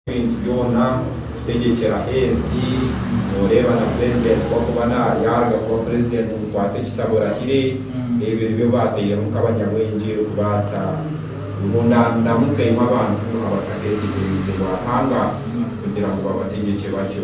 Ebintu byona kutegyekera ensi noreeba na president ku akuba naryarya kuba president mukwate ekitabo orahire ebyo nibyo bateiremu nkabanyabwengye kubaasa ngu nanamukaimwe abantu abataketegereizibwa ahanga kugira ngu babategyekye batyo.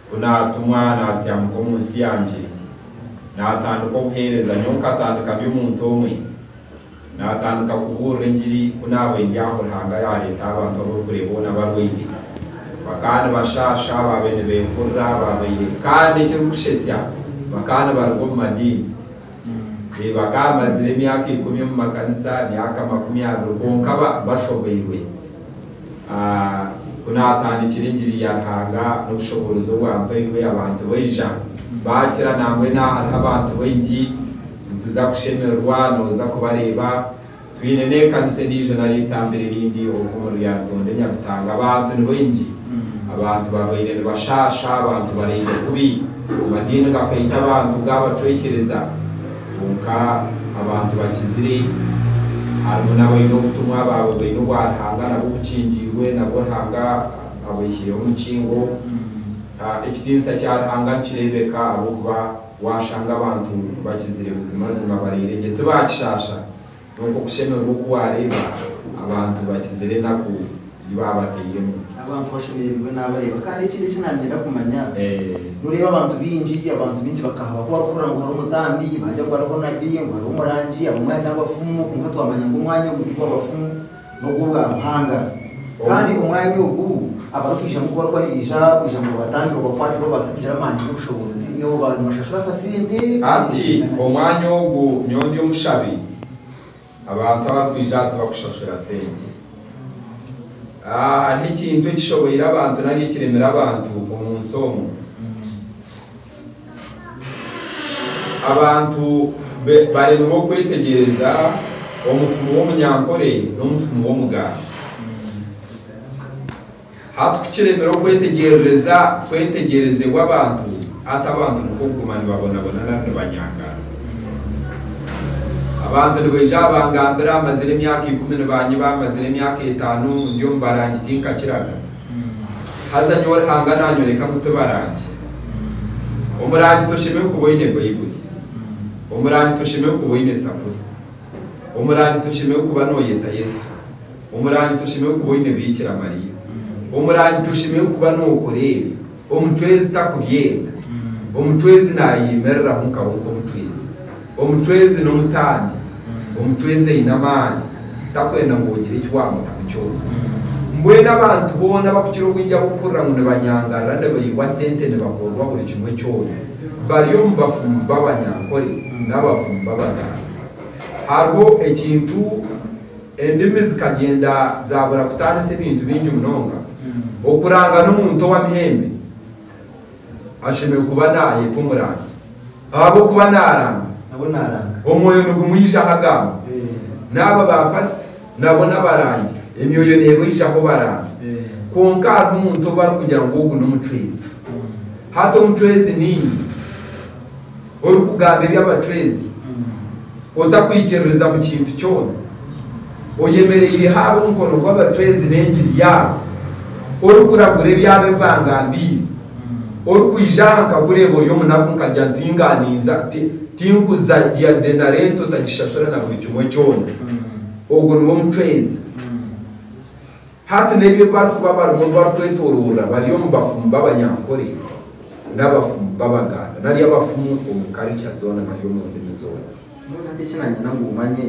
Ku naatumwa naatyamuka omu nsi yangye, naatandika obuheereza, nyowe nkatandika ndi omuntu omwe, naatandika kubuurira engiri ku naabire ndi aho Ruhanga yaareeta abantu abu orikureeba boona barwaire, bakaba nibashaasha, baabaire nibeekurura, baabaire kandi ekirikushetsya bakaba nibaruga omu madiini, ee, bakaba bamazire emyaka ikumi omu makanisa, emyaka makumi abiri, kwonka ba, bashoboirwe. A Ku naatandikire engiri ya Ruhanga n'obushoboorozi obu ampairwe, abantu baija baakira. Nambwenu aha hariho abantu baingi. Nituza kushemererwa nooza kubareeba. Twine n'ekanisa endiijo nari eitambiro erindi oku omuri Lyantonde, Nyabitanga. Abantu ni baingi. Abantu babaire nibashaasha. Abantu baraire kubi. Amadiini gakaita abantu gaabacwekyereza. Kwonka abantu bakizire, harimu n'abaine obutumwa abaawe baine obwa Ruhanga nabwo bukingiirwe, nabwo Ruhanga abaihireho omukingo. Ekitiinisa kya Ruhanga nikireebeka ahabw'okuba waashanga abantu bakizire buzimazima bareeregye, tibaakishaasha. N'okwo kushemererwa oku waareeba abantu bakizire enaku ei baabateiremu. Abantu bashemerirwe naabareeba. Kandi ekindi eki naanyenda kumanya, nooreeba abantu baingi, abantu baingi bakahaba ku barikuhurira ngu hariho omutambi, baagira ngu hariho nabi, ngu hariho omurangi, abamwe hariho abafumu, kwonka twamanya ngu omwanya ogu tigwa bafumu. n'obw'obwa Ruhanga, kandi omwanya ogu abarikwijamu kubaruka nibaija kwija ngu babatangire obubakwate babaase kugira amaani n'obushoboorozi n'obu baabaire nibashashura akasente Hati omwanya ogu nyowe ndi omushabi abantu abarikwija aha tibakushashura sente. Hariho ekintu ekishoboire abantu nari ekiremire abantu omu nsi omu. Abantu baremirwa okwetegyereza omufumu w'omunyankore n'omufumu w'omugambi. Hati ku kiremera okwetegyerereza kwetegyerezebwa abantu, hati abantu nikwo kuguma nibabonabona nari nibanyangana. Abantu nibaija aha bangambira, mazire emyaka ikumi nibanyiba, mazire emyaka etaano ndi omu barangi tinkakiraga. Haza nyowe Ruhanga naanyoreka ngu tibarangi. Omurangi toshemereire kuba oine Baibuli. Omurangi toshemereire kuba oine Zaburi. Omurangi toshemereire kuba nooyeta Yesu. Omurangi toshemereire kuba oine Biikira Mariya. Omurangi toshemereire kuba nookora ebi Omucwezi takubyenda. Omucwezi naayeyimiriraho nka we nk'omucwezi. Omucwezi n'omutaambi. Omucwezi aine amaani, takwenda ngu ogire eki waamutamu kyona. Mbwenu abantu boona abakukira obwingi ab'okuhurira ngu nibanyangarira, nibaihwa sente, nibakorerwa buri kimwe kyona, bari omu bafumu b'abanyankore n'abafumu b'abagaambi. Hariho ekintu. Endimi zikagyenda zaabura kutaanisa ebintu bingi munonga. Okuranga n'omuntu ow'amahembe ashemereire kuba naayeta omurangi ahabw'okuba naaranga. Omwoyo nigumwijaho agamba. N'abo baapasita nabo n'abarangi, emyoyo neebaijaho baranga. Kwonka hariho omuntu ou barikugira ngu ogu n'omucwezi. Hati omucwezi niinye? Orikugamba eby'abacwezi otakwikiririza mu kintu kyona, oyemereire haabe omukono gw'abacwezi n'engiri yaabo, orikuragura ebyabo ebi bangambiire, orikwija aha nkakureeba ori omunaku nkagira nti Ingaaniiza, tinkuza yade na rento otagishashura na buri kimwe kyona, ogwo niwe mucwezi. Hati n'ebi barikuba barimu obu barikwetoroorora bari omu bafumu b'Abanyankore n'abafumu b'Abaganda nari abafumu omu karica zoona nari omu ndimi zoona. Mbwenu hati eki naanyenda ngu omanye,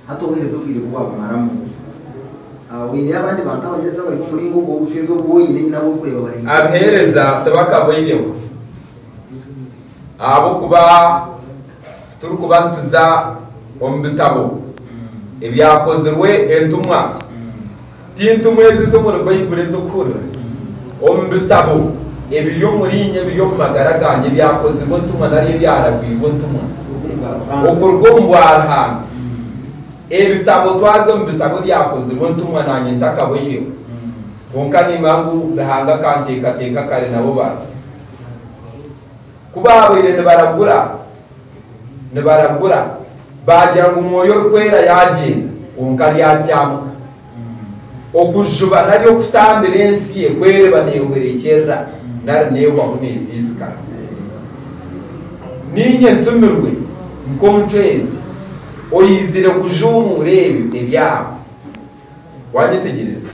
hati obuheereza obwire ku bwaakumaramu, oine abandi bantu abaheereza abari omu muringo ogwo obucwezi obu oine nari abu orikureeba bari haihi? Abaheereza tibakaboineho ahabw'okuba. Turikuba nituza omu bitabo Ebyakozirwe Entumwa, ti entumwa ezi ez'omuri Baibuli ez'okuhurira omu bitabo ebiri omuri inye, ebiri omu magara gangye, Ebyakozirwe Entumwa nari Ebyaragwirwe Entumwa okuruga omu bwaruhanga. Ebitabo twaza omu bitabo Ebyakozirwe Entumwa nanye ntakabaireho, kwonka nimanya ngu Ruhanga akanteekateeka kare nabo bari. Ku baabaire nibaragura, nibaragura, baagira ngu Mwoyo Orikwera yaagyenda, kwonka ryatyamuka. Okujuba nari okutambira ensi ekwereba neehwerekyerera nari neehwamu neezinzikara. Niinye ntumirwe nk'omucwezi oizire kujuumuura ebyo ebyahwa. Waanyetegyereza?